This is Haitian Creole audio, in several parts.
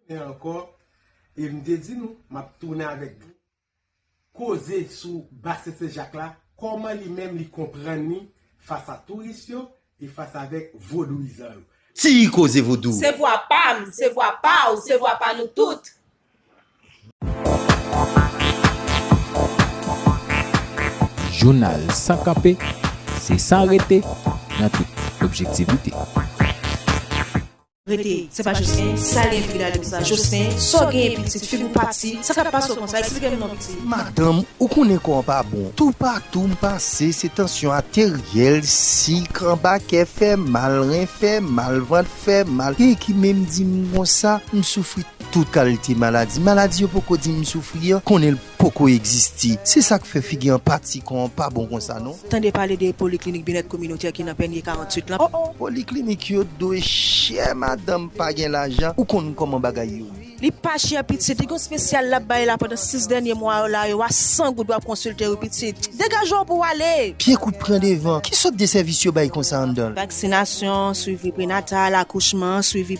Tounen ankò e m te di nou m ap tounen avèk koze sou basen Sen Jak la, kòman li menm li konprann li fas a touris yo e fas avèk vodouyizan yo. Ti koze vodou! Se vwa pa m, se vwa pa w, se vwa pa nou tout! Jounal san kanpe, se san rete, nan tout objektivite. Rete, se pa Jocelyn, sa gen frida li konsa, Jocelyn, sa w genyen pitit, figi w pati, sa k ap pase w konsa, eksplike m non pitit. Madanm, ou konnen kò an pa bon, toupatou m pase se tansyon ateryèl, sik, anba kè fè mal, ren fè mal, vant fè mal, gen ki menm di m konsa, m soufri tout kalite maladi, maladi yo poko di m soufri an, konnen l. poko egziste. Se sak fè figi anpati kò an pa bon konsa non. Tande pale de poliklinik byenèt kominotè ki nan Pènye 48 lan oh oh. Poliklinik yo dwe chè madanm pa gen lajan ou konn kòman bagay yo ye. Li pa chè pitit, li gen yon spesyal lap bay la pandan 6 dènye mwa yo la yo a 100 goud wap konsilte wi pitit. Degaje'w pou'w ale! Pye kout pran devan. Ki sòt de sèvis yo bay konsa anndan'l? Vaksinasyon, swivi prenatal, akouchman, swivi.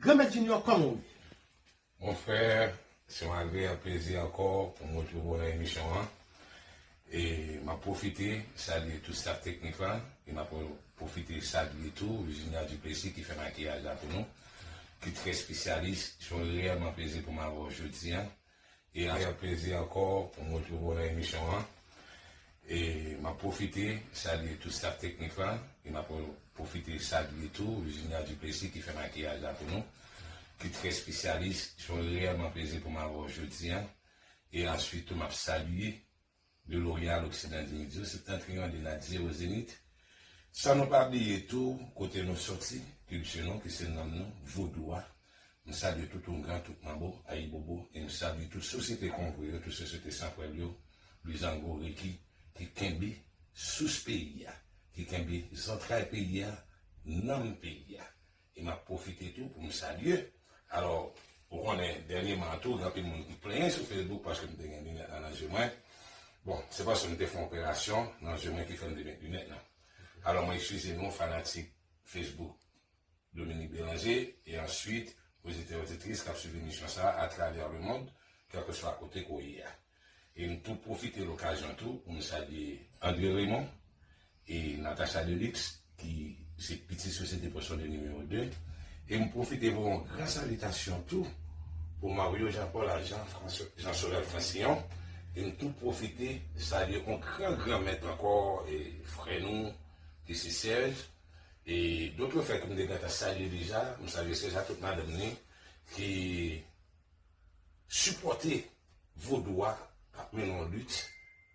Granmèt Junior kòman ou ye? Mon frère, se yon agreab plezi ankò pou mwen toujou nan emisyon an. E map pwofite salye tout staff teknik lan e map pwofite salye tou Virginia Duplessis ki fè makiyaj la pou nou, ki trè spesyalis. Se yon reyèlman plezi pou mwen avè w jodi an. E ak yon plezi ankò pou m retouvo nan emisyon an. E m ap pwofite salye tout staf teknik la. E m ap pwofite salye tou Virginia Duplessis ki fè makiyaj la pou nou. Ki trè spesyalis. Se yon reyèlman plezi pou m avè w jodi an. E answit tou m ap salye De Loreal Oksidan Dimidiou se tank yon li nan Zero Zenith, san nou pa bliye tou kote nou soti, kilti nou ki se nanm nou, vodou a, m salye tout oungan, tout manbo, ayibobo, e m salye tout sosyete kongo yo, tout sosyete san pwèl yo, luzango, reki, ki kenbe sous peyi a, ki kenbe zantray peyi a, nanm peyi a. E m ap pwofite tou pou m salye, alò ou konnen dènyeman an tou gen anpil moun ki plenyen sou Facebook paske m te gen linèt la nan je mwen. Bon, se paske m te fè yon operasyon nan je mwen ki fè m te met linèt la. Alò mwen ekskize nou fanatik Facebook Dominique Bélanger e answit oditè-oditris k ap swiv emisyon sa a atravè lemond kèlkeswa kote ke w ye a. E m tou pwofite lokazyon tou pou m salye André Raymond e Natacha Delix ki se pitit Sosyete Pòsyon de Nimewo 2. E m pwofite voye yon gran salitasyon tou pou Mario Jean Paul ak Jean Jean Sorel Francillon. E m tou pwofite salye yon gran gran mèt ankò e frè nou ki se Serge. E dotrefè ke m te gentan salye deja, m salye Serge ak tout madanm ni ki Sipòte vodou a ap mennen yon lit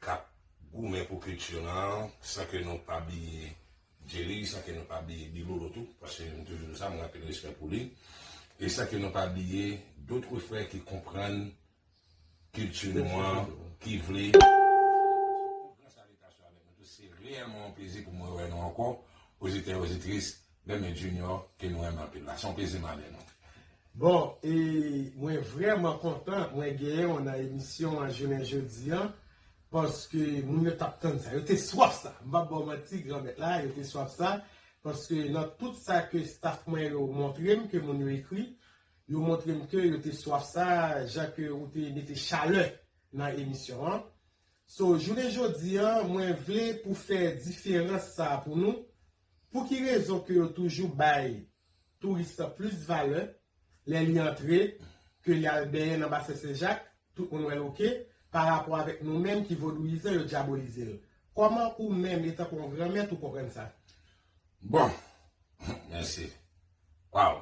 k ap goumen pou kilti nou an san ke nou pa bliye Jerry, san ke nou pa bliye Bilolo tou, paske m toujou di sa, m gen anpil respè pou li, e san ke nou pa bliye dotre frè ki konprann kilti nou an, ki vle pataje yon gwo salitasyon avèk nou tou. Se reyèlman yon plezi pou mwen wè nou ankò, ozitè, ozitris, Men men Junior ke nou renmen anpil la. Se yon plezi male nou. Bon e mwen vrèman kontan mwen genyen w nan emisyon an jounen jodi an paske moun yo tap tann sa yo te swaf sa m pap ba w manti granmèt la yo te swaf sa paske nan tout sa ke staf mwen yo montre m ke moun yo ekri yo montre m ke yo te swaf sa jan ke ou te mete chalè nan emisyon an so jounen jodi an mwen vle pou fè diferans sa pou nou Pou ki rezon ke yo toujou bay touris lan plis valè lè li antre ke li al benyen nan basen Sen Jak, tout moun wèl ok, pa rapò avèk nou menm ki vodouyizan yo dyabolizel? Kòman ou menm etan ke yon gran mèt ou konprann sa? Bon! Mèsi! Waw!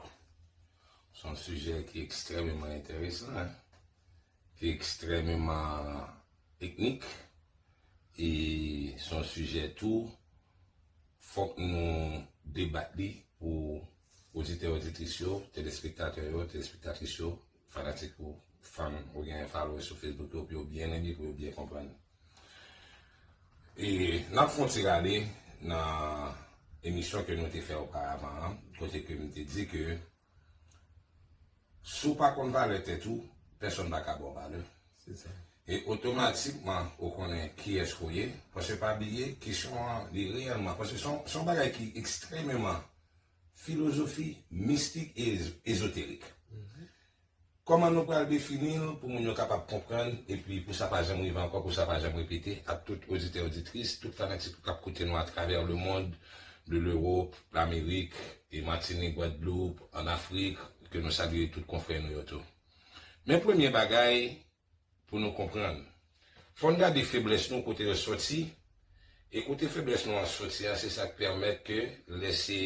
Son sijè ki ekstrememan enteresan hein! ki ekstrèmeman teknik e se yon sijè tou fòk nou debat li pou oditè oditris yo, telespektatè yo, telespektatris yo, fanatik ou fan ou gen followers sou Facebook yo pou yo byen li, pou yo byen konprann li. E n ap fè yon ti rale nan emisyon ke nou te fè oparavan an kote ke m te di ke Si w pa konn valè tèt ou, pèsonn pa ka ba w valè. E otomatikman ou konnen kiyès ke w ye. Paske pa bliye, kesyon an li reyèlman, paske se yon bagay ki ekstrememan filozofi, mistik e ezoterik. Kòman nou pral defini l pou moun yo kapab konprann epi pou sa pa janm rive ankò, pou sa pa janm repete ak tout oditè oditris, tout fanatik k ap koute nou atravè lemond, de Lewop, Lamerik, Matinik, Gwadloup, an Afrik, ke nou salye tout konfrè nou yo tou. Men premye bagay pou nou konprann. Fò n gade feblès nou kote yo soti, e kote feblès nou an soti an se sa k pèmèt ke lè se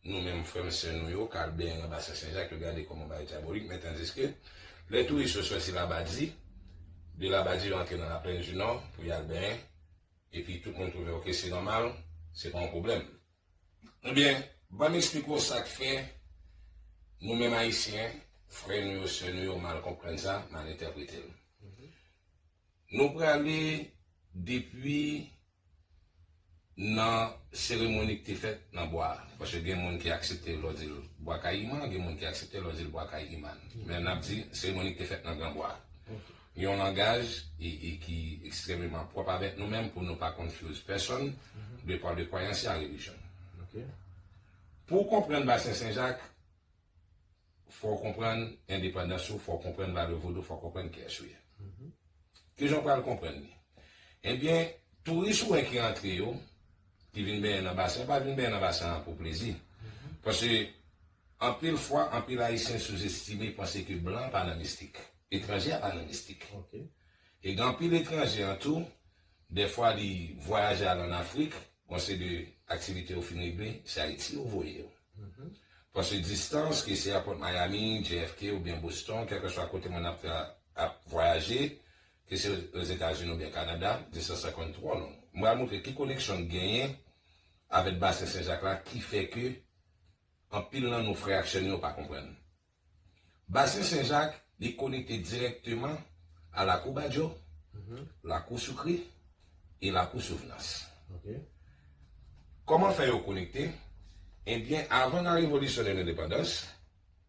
Nou menm frè m sè nou yo k al benyen nan basen Senjak yo gade kòman bagay dyabolik men tandiske lè touris yo sòti Labadi, de Labadi yo antre nan Laplenndinò pou y al benyen epi tout moun twouve ok se nòmal se pa yon pwoblèm. Ebyen ban m esplike w sa k fè nou menm Ayisyen, frè nou yo, sè nou yo mal konprann sa, mal entèprete l. Nou prale depi nan seremoni ki te fèt nan bwa a. Paske gen moun ki aksepte lò di l Bwa Kayiman, gen moun ki aksepte lò di l Bwa Kayiman. Men n ap di seremoni ki te fèt nan gran bwa a. Yon langaj ki ekstrememan pwòp avèk nou menm pou nou pa confuse pèsonn depan de kwayans y a relijyon. Pou w konprann Basen Senjak, Fò w konprann endepandans ou, fò w konprann valè vodou, fò w konprann kiyès ou ye. Ki jan w pral konprann li? Ebyen, touris ou wè ki antre yo, ki vin benyen nan basen, yo pa vin benyen nan basen an pou plezi. Paske, anpil fwa, anpil Ayisyen souzestime, panse ke blan an pa nan mistik. Etranje a pa nan mistik. E gen anpil etranje an tou, Dèfwa li vwayaje al an Afrik, panse de aktivite yo fin regle, se Ayiti yo voye yo. Panse distans, ke se Apòt Miami, JFK oubyen Boston, kèlkeswa kote moun ap ap vwayaje, ke se Ozetazini oubyen Kanada, distans la konn twò long. M pral montre ki koneksyon n genyen avèt Basen Senjak la ki fè ke anpil nan nou frè ak sè nou yo pa konprann. Basen Sen Jak li konekte dirèkteman a Lakou Badjo, Lakou Soukri e Lakou Souvnans. Kòman fè yo konekte? Ebyen avan la revolisyon de lendepandans,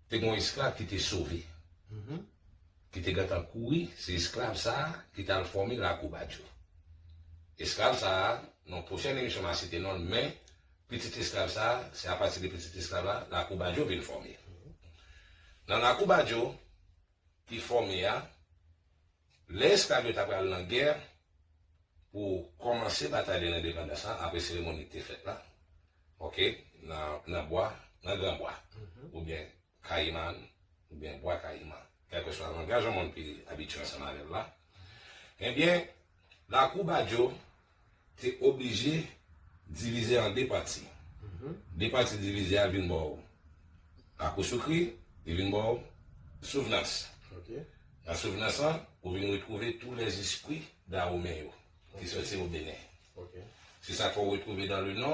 te gen yon esklav ki te sove, ki te gentan kouri, se esklav sa a ki t al fòme Lakou Badjo. Esklav sa a, nan yon pwochèn emisyon m a site non l men Pitit esklav sa a, se apati de pitit esklav la, Lakou Badjo vin fòme. Nan Lakou Badjo, ki fòme a, lè esklav yo ta pral nan gè, pou kòmanse batay de lendepandans la, apre seremoni ki te fèt la, ok, nan bwa, nan gran bwa, oubyen. Kayiman oubyen Bwa Kayiman, kèlkeswa langaj yon moun pi abitye ansanm avè l la, ebyen Lakou Badjo te oblije divize an 2 pati. 2 pati divize a vin bò Lakou Soukri, li vin bò Souvnans. Nan Souvnans lan, ou vin retwouve tou lèzespri Dawomen yo ki soti o Benen. Se sa k fè ou retwouve dan le Nò,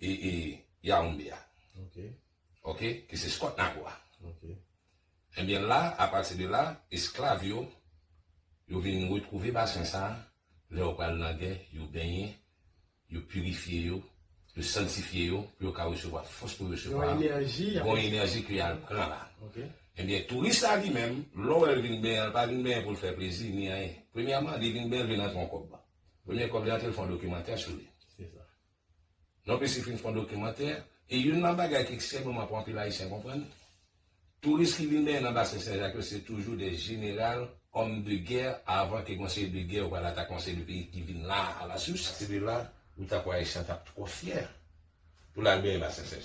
e e Yaounde a ok ki se Scott Nago a ebyen la apati de la esklav yo yo vin retwouve basen sa lè yo pral nan gè yo benyen yo pirifye yo yo sanktifye yo pou yo ka resevwa fòs pou yo resevwa yon enèji ke yal pran la ebyen touris la li menm lè w wè l vin benyen l pa vin benyen pou l fè plezi ni anyen premyèman li vin benyen l vin rantre yon kòb. Premye kòb li antre l fè yon dokimantè sou li. Non plis li fin fè yon dokimantè e youn nan bagay ki ekstrèmeman pou anpil ayisyen konprann, touris ki vin benyen nan basen Senjak yo se toujou de jeneral, òm de gè avan ke gen yon seri de gè ou pral atake yon seri de peyi ki vin la a la sous. Epi la, ou ta kwè ayisyen an t ap twò fyè pou l al benyen basen Senjak.